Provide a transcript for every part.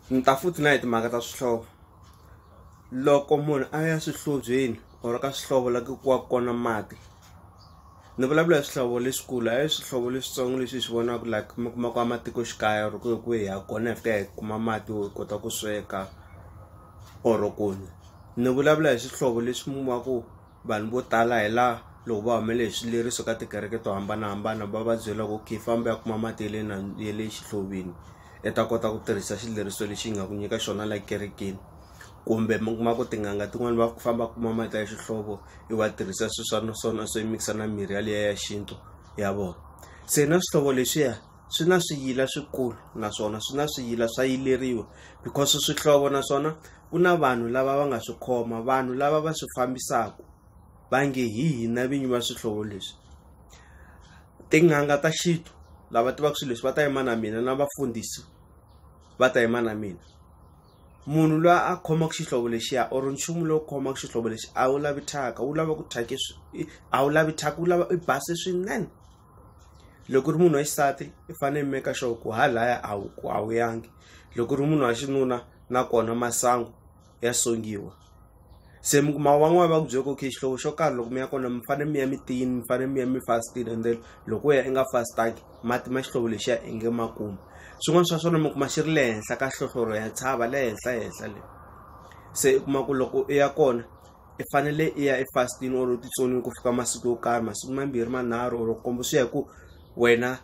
ni ta futhi na hi timhaka ta swihlovo loko munhu a ya swihlobyeni or ka swihlovo la ku wa kona mati ni vulavula hi swihlovo leswikulu a hi swihlovo leswitsongo leswi hi swi vonaka like mi kuma ku matikoxikaya or ku hi ku hi ya kona hi fika hi kuma mati wo kota ku sweka or ku nwa ni vulavula hi swihlovo leswi mi ku Vanhu vo tala hi la loko va humele hi swileriso ka tikereke to hambanahambana va va byela ku okay famba u ya kuma mati ya le na ya le xihlovini i ta kota ku tirhisa xileriso lexi hi nga ku nyika xona la ekerekeni kumbe mi kuma ku tin'anga tin'wani va famba kuma mati ya xihlovo i wa tirhisa swi swa na swona swo mikisa na mirhi ya liya ya xintu ya vona se na swihlovo leswiya. swi na swiyila swikulu naswona swi na swiyila swa yileriwa because swihlovo naswona ku na vanhu lava va nga swi khoma vanhu lava va swi fambisaka va nge hi hina vinyi va swihlovo leswi tin'anga ta xintu lava tivaka swilo leswi va ta yima na mina na vafundhisi va ta yima na mina munhu loyi a khomaka xihlovo lexiya or nchumu lowu khomaka xihlovo lexi a wu lavi thyaka wu lava ku thyaka a wu lavi thyaka wu lava i base swinene. loko u ri munhu wa xisati i fanele i make sure ku ha laya a wu a wu yangi loko u ri munhu wa xinuna nakona masangu ya songiwa se mi kuma van'wani va ku byela ku okay xihlovo xo karhi loko mi ya kona mi fanele mi ya mi tiyini mi fanele mi ya mi fastile and then loko u ya i nga fastangi mati ma xihlovo lexiya i nge ma kumi swin'wana swa swona mi kuma xi ri le henhla ka hlohloro ya tshava le henhla henhla le se u kuma ku loko u ya kona i fanele i ya efastini or titsoniwi ku fika masiku yo karhi masiku mambirhi manharhu or kombo swi ya hi ku wena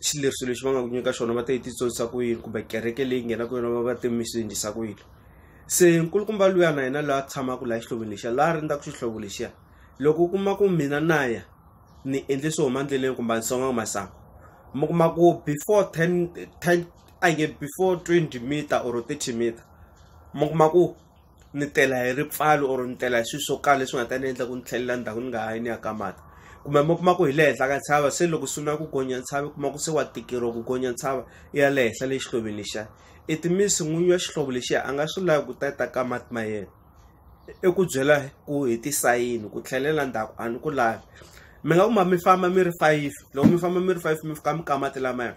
xileriso lexi va nga ku nyika xona va ta yi titsonisa ku yini kumbe kereke leyi nghenaka yona va va te mi swi endlisa ku yini se nkulukumba luya na yena loyi a tshamaka laha xihloveni lexiya laha rindzaka xihlovo lexiya loko u kuma ku mina na ya ni endle swo huma endleleni kumbe a ni songa masangu mi kuma ku before ten ten a nge before twenty meter or thirty meter mi kuma ku ni tela hi ripfalo or ni tela hi swilo swo karhi leswi nga ta ni endla ku ni tlhelela ndzhaku ni nga ha yi ni ya ka mati kumbe mi kuma ku hi le henhla ka ntshava se loko swi na ku gonya ntshava i kuma ku se wa tikeriwa ku gonya ntshava i ya le henhla le xihloveni lexiya i timisi n'winyi wa xihlovo lexiya a nga swi lavi ku ta ta ka mati ma yena i ku byela ku hi tisayini ku tlhelela ndzhaku a ni ku lavi mi nga kuma mi famba mi ri fayifi loko mi famba mi ri fayifi mi fika mi ka mati lamaya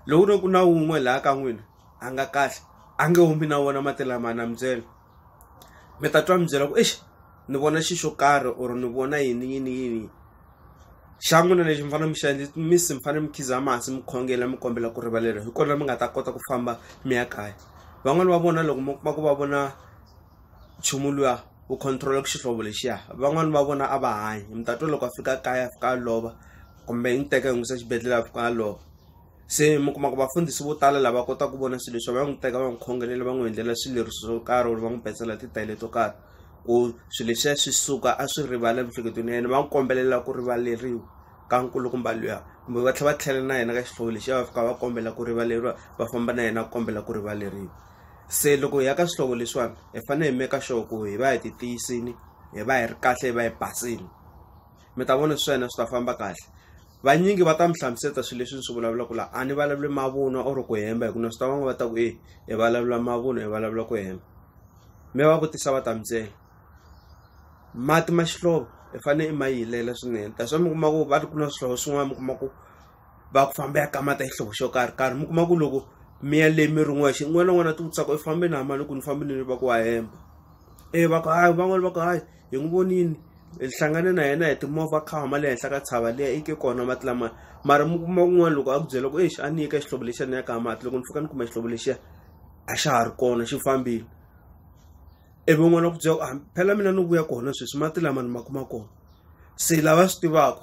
loko ku ri ku na wun'we laha ka n'wina a nga kahle a nge humi na wona mati lama na mi byela mi ta twa mi byela ku exi ni vona xi xo karhi or ni vona yini yini yini xa n'wina lexi mi fanele mi xi endli mi si mi fanele mi khiza masi mi khongela mi kombela ku rivaleriwa hi kona mi nga ta kota ku famba mi ya kaya van'wani va vona loko mi kuma ku va vona nchumu luya wu controla ku xihlovo lexiya van'wani va vona a va hanyi mi ta twa loko a fika kaya a fika a lova kumbe yi ni teka hi n'wisa xibedhlele a fika a lova se mi kuma ku vafundhisi vo tala lava kota ku vona swilo leswi va n'wi teka va n'wi khongelela va n'wi endlela swileriso swo karhi or va n'wi petsela titayele to karhi ku swilo leswiya swi suka a swi rivala emiehleketweni ya yena va n'wi kombelela ku rivaleriwa ka nkulukumba luya kumbe va tlhela va tlhela na yena ka xihlovo lexiya va fika va kombela ku rivaleriwa va famba na yena ku kombela ku rivaleriwa se loko hi ya ka swihlovo leswiwani hi fanele hi meka sure ku hi va hi ti tiyisini hi va hi ri kahle hi va hi basini mi ta vona swi swa hina swi ta famba kahle vanyingi va ta mi hlamuseta swilo leswi ni swi vulavulaka laha a ni vulavuli mavunwa or ku hemba hikuva swi ta van'we va ta ku e hi vulavula mavunwa hi vulavula ku hemba mi va vutisa va ta mi byela mati ma xihlovo i fanele i ma yilela swinene that's why mi kuma ku va ri ku na swihlovo swin'wana mi kuma ku va ku famba ya kamata xihlovo xo karhi karhi mi kuma ku loko mi ya leyi mi ri n'wexe un'wana na un'wana a ti vutisa ku i fambe na mali loko ni fambile ni va ku wa hemba e va ku hayi van'wana va ku hayi hi n'wi vonile hi hlangane na yena hi timovha kha huma le henhla ka tshava leyi i ke kona mati lama mara mi kuma kun'wana loko a ku byela ku exi a ni nyika xihlovo lexiya ni ya ka mati loko ni fika ni kuma xihlovo lexiya a xa ha ri kona xi fambile ivi n'wana ku byela ku phela mina ni vuya kona sweswi mati lama ni ma kuma kona se lava swi tivaka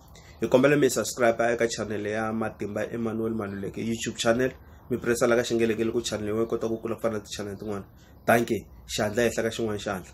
hi kombela mi subscribe eka channel ya matimba emmanuel maluleke youtube channel mi pressa la ka xingelekele ku channel yin'we yi kota ku kula ku fana na ti-channel tin'wana danke xandla ehenhla ka xin'wana xandla